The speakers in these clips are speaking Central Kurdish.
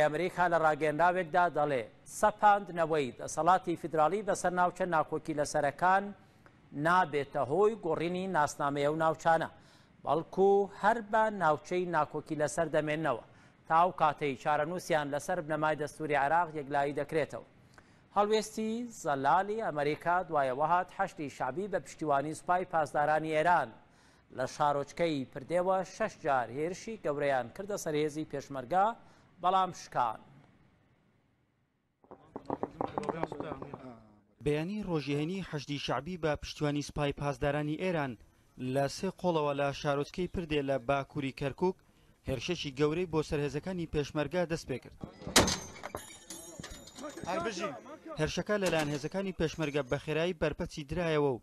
ئەمریکا لە ڕاگەیەنراوێکدا دەڵێ، سەپاندنەوەی دەسەڵاتی فیدراڵی بەسەر ناوچە ناکۆکیلەسەرەکان نابێتە هۆی گۆڕینی ناسنامەی ئەو ناوچانە، بەڵکو هەر بە ناوچەی ناکۆکیلەسەر دەمێننەوە تا ئەو کاتەی چارەنووسیان لەسەر بنەمای دەستوری عێراق یەکلایی دەکرێتەوە. هەڵوێستی زەلالی ئەمریکا دوای ئەوەهات حەشدی شەعبی بە پشتیوانی سوپای پاسدارانی ئێران، لە شارۆچکەی پردێوە شەش جار هێرشی گەورەیان کردە سەرهێزی پێشمەرگا بەڵام شکان. بەیانی ڕۆژێنی حەشدی شعبی بە پشتیوانی سپای پاسدارانی ئێران لە سێ قۆڵەوە لە شارۆچکەی پردێ لە باکووری کەرکک هێرشەشی گەورەی بۆ سەرهێزەکانی پێشمەرگا دەست پێ کرد. هەربژین هێرشەکە لەلایەن هێزەکانی پێشمەرگە بەخێرایی بەرپەچی درایەوە و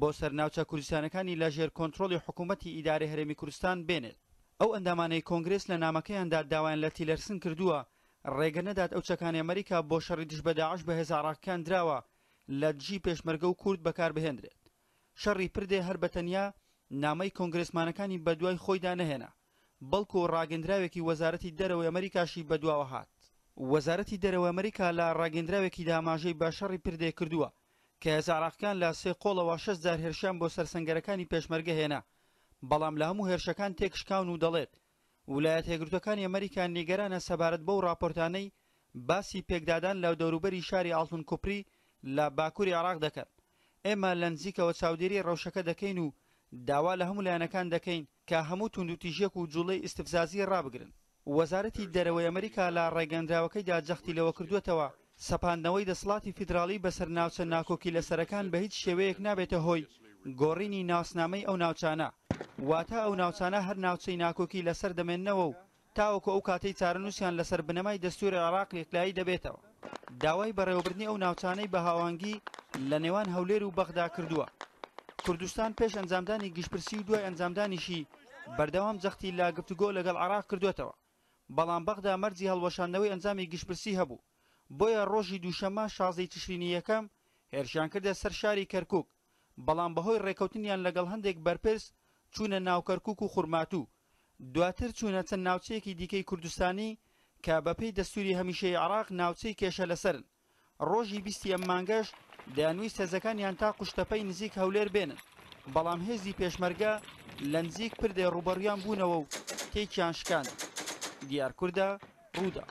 بۆ سەر ناوچە کوردستانەکانی لە ژێر کۆنترۆڵی حکوومەتی ئیدارەی هەرێمی کوردستان بێنێت. ئەو ئەندامانەی کۆنگرێس لە نامەکەیاندا داوایان لە تیلەرسن کردووە ڕێگە نەدات ئەو چەکانەی ئەمەریکا بۆ شەڕی دژ بە داعش بە هێزە عێڕاقییەکان دراوە لە دژی پێشمەرگە و کورد بەکار بهێندرێت. شەڕی پردێ هەر بە تەنیا نامەی کۆنگرێسمانەکانی بە دوای خۆیدا نەهێنا، بەڵکوو ڕاگەندراوێکی وەزارەتی دەرەوەی ئەمەریکاشی بە دواوە هات. وەزارەتی دەرەوەی ئەمەریکا لە ڕاگەندراوێکیدا ئاماژەی بە شەڕی پردێ کردووە کە هێزە عراقیەکان لە سێ قۆڵەوە شەست جار هێرشیان بۆ سەر سەنگەرەکانی پێشمەرگە هێنا بەڵام لە هەموو هێرشەکان تێکشکاون و دەڵێت ولایەتە یەکگرتوەکانی ئەمەریکا نیگەرانە سەبارەت بەو ڕاپۆرتانەی باسی پێکدادان لە دەوروبەری شاری ئاڵتون کوپری لە باکوری عراق دەکەن ئێمە لە نزیکەوە چاودێری ڕەوشەکە دەکەین و داوا لە هەموو لایەنەکان دەکەین کە هەموو توندوتیژیەک و جوڵەی ئیستفزازی ڕابگرن. وەزارەتی دەرەوەی ئەمریکا لە ڕاگەندراوەکەیدا جەختی لەوە کردووەتەوە، سەپاندنەوەی دەسڵاتی فیدراڵی بەسەر ناوچە ناکۆکیلەسەرەکان بە هیچ شێوەیەک نابێتە هۆی گۆڕینی ناسنامەی ئەو ناوچانە، واتە ئەو ناوچانە هەر ناوچەی ناکۆکی لەسەر دەمێننەوە و تاوەکو ئەو کاتەی چارەنووسیان لەسەر بنەمای دەستووری عێراق یەکلایی دەبێتەوە، داوای بەڕێوەبردنی ئەو ناوچانەی بە هاوانگی لە نێوان هەولێر و بەغدا کردووە. کوردستان پێش ئەنجامدانی گشتپرسی و دوای ئەنجامدانیشی بەردەوام جەختی لە گفتوگۆ لەگەڵ عێراق کردووەتەوە، بەڵام بەغدا مەرجی هەڵوەشاندنەوەی ئەنجامی گشتپرسی هەبوو، بۆیە ڕۆژی دووشەممە شازدە ی تشرینی یەکەم هێرشیان کردە سەر شاری کەرکووک. بەڵام بەهۆی ڕێکەوتنیان لەگەڵ هەندێک بەرپرس چوونە ناو کەرکووک و خورماتوو، دواتر چوونە چەند ناوچەیەکی دیکەی کوردستانی کە بەپێی دەستووری هەمیشەیی عێراق ناوچەی کێشە لەسەرن، ڕۆژی بیست ی ئەم مانگەش دەیانویست هێزەکانیان تا قوشتەپەی نزیک هەولێر بێنن، بەڵام هێزی پێشمەرگە لەنزیک پردێ ڕووبەڕویان بوونەوە و تێکیان شکاند. دیار کوردا، ڕووداو.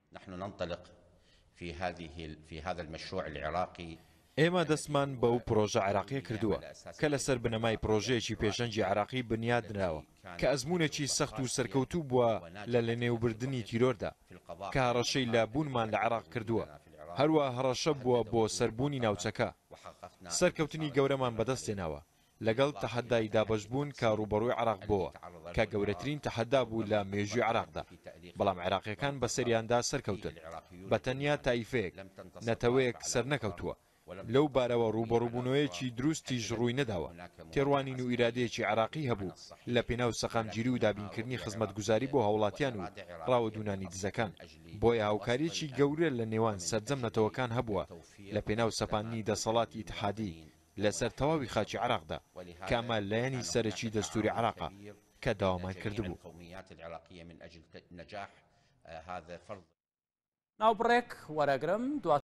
نحن ننطلق في هذه في هذا المشروع العراقي ئێمە دەستمان بەو پرۆژە عێراقیە کردووە کە لەسەر بنەمای پرۆژەیەکی پێشەنگی عێراقی بنیات نراوە کە ئەزمونێکی سەخت و سەرکەوتوو بووە لە لەنێوبردنی تیرۆردا کە هەڕەشەی لە بوونمان لە عێراق کردووە هەروە هەڕەشە بووە بۆ سەربوونی ناوچەکە سەرکەوتنی گەورەمان بەدەستێناوە لەگەڵ تەحەدای دابەشبوون کە ڕووبەڕووی عێراق بۆوە، کە گەورەترین تەحەدا بوو لە مێژووی عێراقدا، بەڵام عێراقییەکان بەسەریاندا سەرکەوتن، بە تەنیا تایفەیەک، نەتەوەیەک سەرنەکەوتووە. لەو بارەوە ڕووبەڕووبوونەوەیەکی دروستیش ڕووی نەداوە، تێڕوانین و ئیرادەیەکی عێراقی هەبوو لەپێناو سەقامگیری و دابینکردنی خزمەتگوزاری بۆ هاوڵاتیان و ڕاوەدوونانی دزەکان، بۆیە هاوکارییەکی گەورە لە نێوان سەرجەم نەتەوەکان هەبووە لەپێناو سەپاندنی دەسەڵاتی ئیتحادی لەسەر تەواوی خاکی عێراقدا، کە ئەمە لایەنی سەرەکی دەستووری عێراقە کە داوامان کردبوو. ناوبڕێک وەرئەگرم دواتر دەمانتوانی بەشێوەیەکی تر بەکاربهێنین.